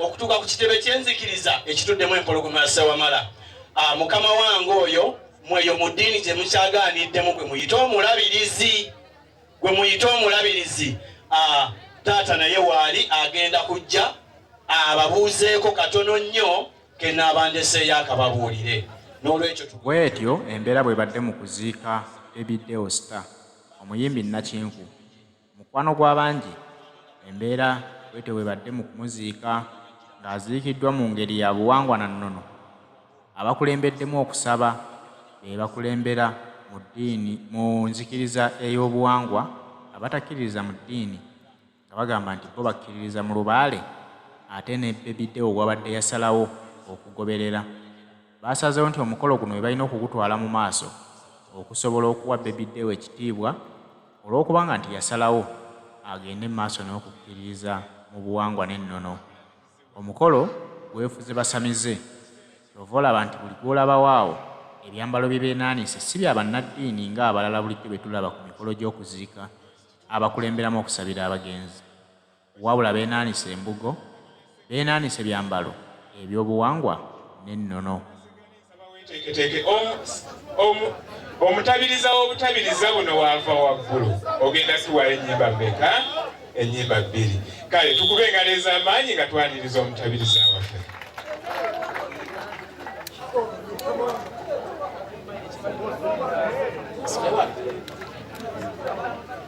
okutuuka ku kitebe ky'enzikiriza ekituddemu empologoma ya Ssewamala. Ah, mukama wange oyo mweyo mu ddiini gye mukyagaaniddemu gwe muyite omulabirizi gwe muyite omulabirizi ah, taata naye waali agenda kujja ababuuzeeko katono nnyo kenaabandeseeyo akababuulire n'olwekyo bwetyo embeera bwebadde mu kuziika ebideo star omuyimbi nakinku Mukwano gwa bangi, embeera bwetyo bwebadde mu kumuziika ng'aziikiddwa mu ngeri ya buwangwa na nnono. Abakulembeddemu okusaba be bakulembera mu ddiini mu nzikiriza ey'obuwangwa abatakkiririza mu ddiini nga bagamba nti bo bakkiririza mu lubaale ate ne Baby Deo gwabadde yasalawo okugoberera. baasazeewo nti omukolo guno be balina okugutwala mu maaso okusobola okuwa Baby Deo ekitiibwa olw'okubanga nti yasalawo agende mu maaso n'okukkiririza mu buwangwa n'ennono. Omukolo gwefuze basamize ky'ova olaba nti buli gw'olabawo awo ebyambalo bye beenaanise si bya bannaddiini ng'abalala bulijjo be tulaba ku mikolo gy'okuziika abakulemberamu okusabira abagenzi. Wabula beenaanise embugo, beenaanise byambalo eby'obuwangwa n'ennono. Weeteeketeeke. Omutabiriza w'obutabiriza buno w'ava waggulu. Ogenda tuwaayo ennyimba mmeka? Ennyimba bbiri. Kale tukube engalo ez'amaanyi nga twaniriza omutabiriza waffe.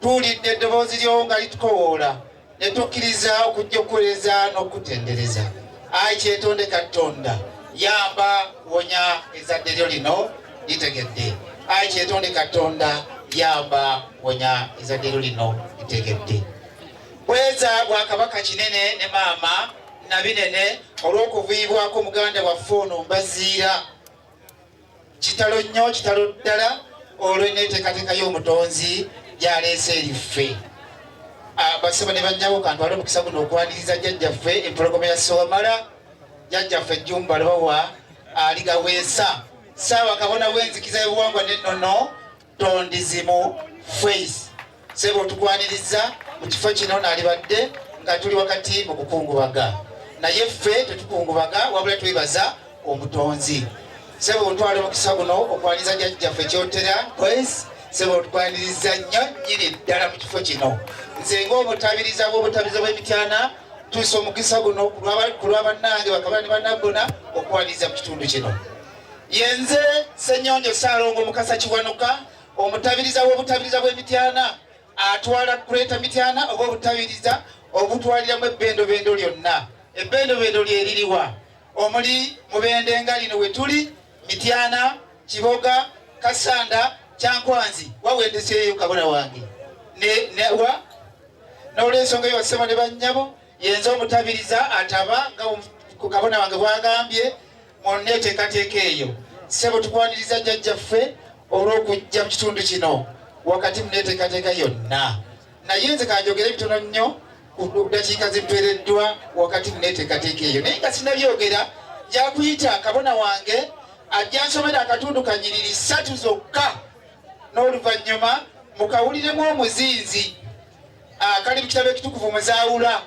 Tuwulidde eddoboozi lyo nga litukowoola, ne tukkiriza okujja okuweereza n'okukutendereza. Ayi kyetonde Katonda, yamba wonya ezadde lyo lino litegedde. Ayi kyetonde Katonda, yamba wonya ezadde lyo lino litegedde. Bweza bwa Kabaka Kinene ne maama Nabinene olw'okuviibwako muganda waffe ono Mbaziira. Kitalo nnyo, kitalo ddala olw'enneeteekateeka y'Omutonzi gy'aleese eriffe. Ah, Basebo ne bannyawo kantwala omukisa guno okwaniriza jjajjaffe empologoma ya Ssewamala, jjajjaffe Jjumba Lubowa aligaweesa ssaawa kabona w'enzikiza y'obuwangwa n'ennono tondizimu face sebo tukwaniriza mu kifo kino nalibadde nga tuli wakati mu kukungubaga naye ffe tetukungubaga wabula twebaza omutonzi sebo otwala omukisa guno okwaniriza jajjaffe kyotera boys sebo tukwaniriza nnyo nyini ddala mu kifo kino nze ngaomutabiriza bwobutabiriza bwemityana tusa omukisa guno ku lwa bannange bakabani banaggona okwaniriza mu kitundu kino yenze senyonjo salongo mukasa kiwanuka omutabiriza w'obutabiriza bw'emityana atwala greater mityana oba obutabiriza obutwaliramu ebbendobendo lyonna ebbendobendo lyeririwa omuli mubende nga lino wetuli mityana kiboga kasanda kyankwanzi wawendeseeyo kabona wange newa n'olwensonga eyo basebo ne bannyabo yenze omutabiriza ataba nga ku kabona wange bwagambye mu nneeteekateeka eyo ssebo tukwaniriza jjajjaffe olw'okujja mu kitundu kino wakati mu nneeteekateeka yonna naye nze kanjogera ebitono nnyo ku ddakiika zituweereddwa wakati mu nneeteekateeka eyo naye nga sinabyogera yakuyita kabona wange ajja nsomera akatundu kanyiriri ssatu zokka n'oluvannyuma mukawuliremu omuzinzi akali ah, mu kitabo ekitukuvu muzaawula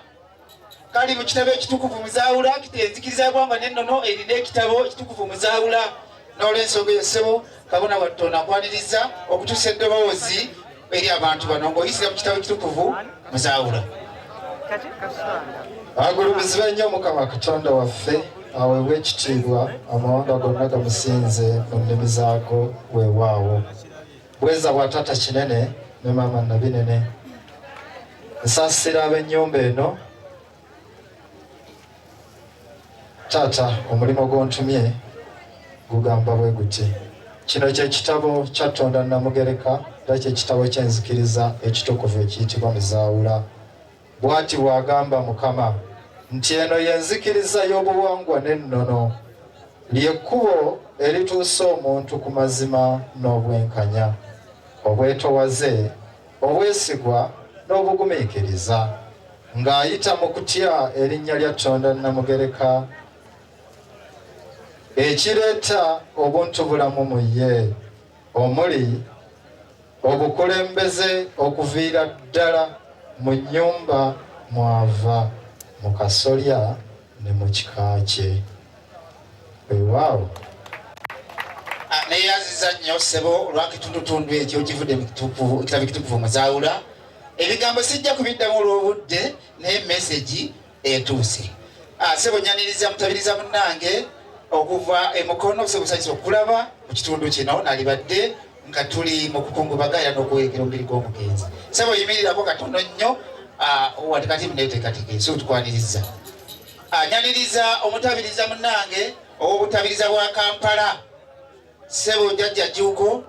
kali mu kitabo ekitukuvu muzaawula kita enzikiriza yagwanga nennono erina ekitabo ekitukuvu muzaawula n'olwensonga eyo ssebo kabona wattu onakwaniriza okutuusa eddoboozi eri abantu bano ng'oyisira mu kitabo ekitukuvu muzaawula agulumizibwa nnyo mukama katonda waffe aweebwa ekitiibwa amawanga gonna gamusinze mu nnimi zaago weewaawo Bweza bwa tata kinene ne mama nabinene nsasira ab'ennyumba eno taata omulimu gw'ontumye gugamba bwe guti kino kye kitabo kya Tonda Namugereka era kye kitabo ky'enzikiriza ekitukuvu ekiyitibwa Muzaawula. Bw'ati bw'agamba Mukama nti eno y'enzikiriza y'obuwangwa n'ennono, ly'ekkubo erituusa omuntu ku mazima n'obwenkanya, obwetowaze, obwesigwa n'obugumiikiriza, ng'ayita mu kutya erinnya lya Tonda Nnamugereka ekireeta obuntubulamu mu ye. omuli obukulembeze okuviira ddala mu nnyumba mwava mu kasolya ne mu kika kye wewaawo ah, neyaziza nnyo ssebo olwakitundutundu ekyo kivudde mukitabo ekitukuvu muzaawula ebigambo sijja kubiddamu olw'obudde naye mesegi etuuse ah, sebo nyaniriza mutabiriza munange okuva emukono semusanyisa okulaba mu kitundu kino nalibadde nga tuli mu kukungubaga era n'okuweekera omubiri gw'omugenzi sebo yimirirako katono nnyo ah, wati kati muneeteekateeka ensi otukwaniriza ah, nyaniriza omutabiriza munange ow'obutabiriza bwa kampala sebo jajja juuko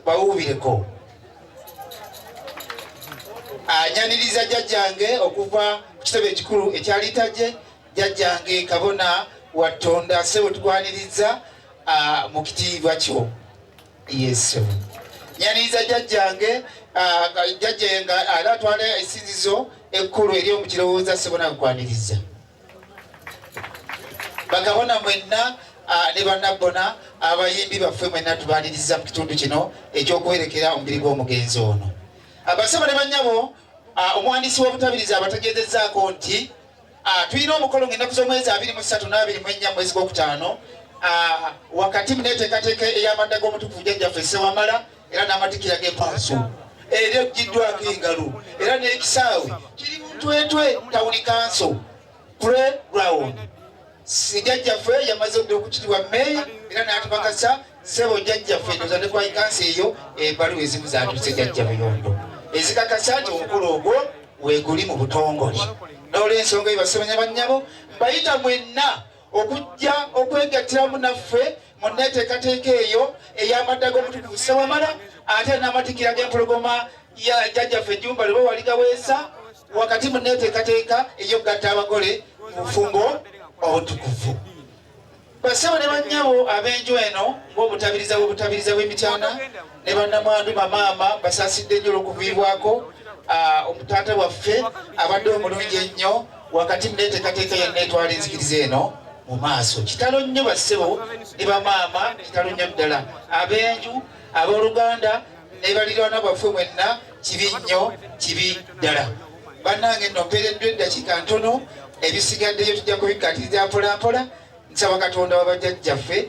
bawuubireko anyaniriza jjajjange okuva ku kitebe ekikulu ekyalitajje jjajjange kabona wa tonda sebo tukwaniriza mu kitiibwa kyo yesu nyaniriza jjajjange jjajje nga era atwala esinzizo ekkulu ery'omukirowooza sebo nankwaniriza bakabona mwenna ah, ne banabbona abayimbi baffe mwenna tubaliriza mu kitundu kino ekyokuwerekera omubiri gw'omugenzi ono abasaba ne banyabo ah, omuwandiisi w'obutabirizi abategeezezaako nti ah, tulina omukolo ngaennaku z'omwezi abiri mu ssatu n'abiri mu ennya mwezi gw'okutaano wakati mu neeteekateeka ey'amadda g'omutukuvu jjajjaffe ssewamala era n'amatikira g'empaaso era ejjiddwako engalo era n'ekisaawe kiri muntwetwe tawuni kanso pre ground sijajjaffe yamaze odda okukitibwa meeya era n'atubakasa sebo jajjaffe ndoza ne kwayi kansi eyo embalu ezimu zatuse jajja buyondo ezikakasa nti omukulu ogwo weguli mu butongole n'olwensonga eyo basemanya bannyabo mbayita mwenna okujja okwegattiramu naffe mu nneeteekateeka eyo ey'amadda g'omutukuvu ssewamala ate n'amatikira g'empologoma ya jjajjaffe ejjumba lwe bawali gaweesa wakati mu nneeteekateeka ey'okugatta abagole mu bufumbo obutukuvu basebo ne bannyabo ab'enju eno ng'obutabiriza bw'obutabiriza bw'emityana ne bannamwandu bamaama basasidde nnyo olwokuviibwako ah, omutaata waffe abadde omulungi ennyo wakati muneetekateeka yenna etwala enzikiriza eno mu maaso kitalo nnyo bassebo ne bamaama kitalo nnyo ddala ab'enju abooluganda ne balirwana bwaffe mwenna kibi nnyo kibi ddala bannange nno mpeereddwa eddakiika ntono ebisigaddeyo tujja kubikatiriza mpolampola nsaba katonda wabajjajjaffe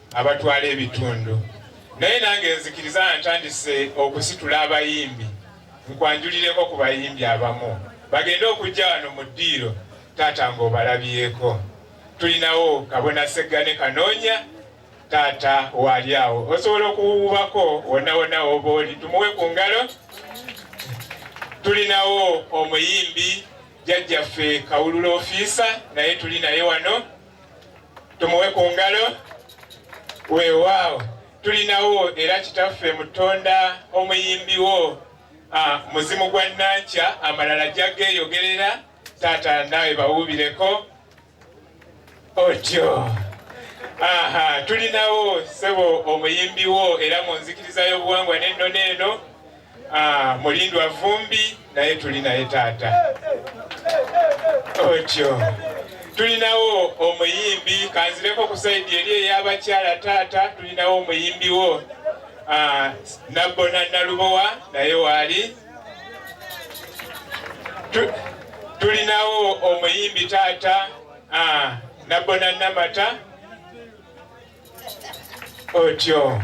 abatwala ebitundu naye nange nzikiriza ntandise okusitula abayimbi nkwanjulireko ku bayimbi abamu bagende okujja wano mu ddiiro taata ng'obalabyeko tulinawo kabona seggane kanoonya taata waali awo osobola okuwuubako wonna wonna woba oli tumuwe ku ngalo tulinawo omuyimbi jajjaffe kawulula ofiisa naye tuli naye wano tumuwe ku ngalo weewaawo tulinawo era kitaffe mutonda omuyimbiwo ah, muzimu gwa nankya amalala jageeyogerera taata naawe bawuubireko otyo aha tulinawo sebo omuyimbiwo era mu nzikiriza y'obuwangwa n'ennono eno Ah, mulindwa vumbi naye tuli naye taata otyo tulinawo omuyimbi kanzireko ku saidi eri eyabakyala taata tulinawo omuyimbi wo ah, nabbona nalubowa naye waali tulinawo omuyimbi taata ah, nabbona namata otyo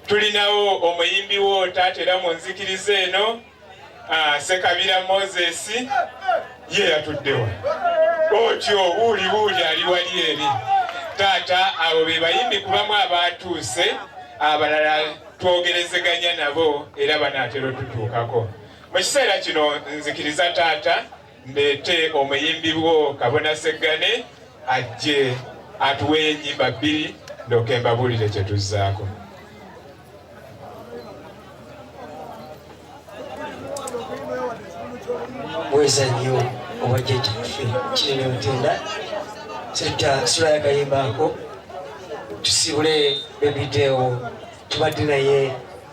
tulinawo omuyimbi wo taata era mu nzikiriza eno ah, sekabira moses ye yatuddewa otyo wuuli wuuli ali wali eri taata abo be bayimbi kubamu abaatuuse abalala twogerezeganya nabo era banaatera otutuukako mu kiseera kino nzikiriza taata mbeete omuyimbi bwo kabona seggane ajje atuwe enyimba bbiri ndoke mbabuulire kye tuzzaako bweza nnyo obwajjaja ffe kirina otenda setta sula yakayimbaako tusibule bebideewo tubadde naye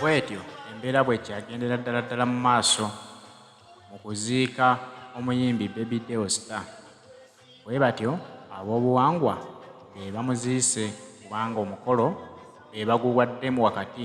bwetyo embeera bwekyagendera ddala ddala mu maaso mu kuziika omuyimbi baby deo star bwe batyo ab'obuwangwa be bamuziise kubanga omukolo be baguwaddemu wakati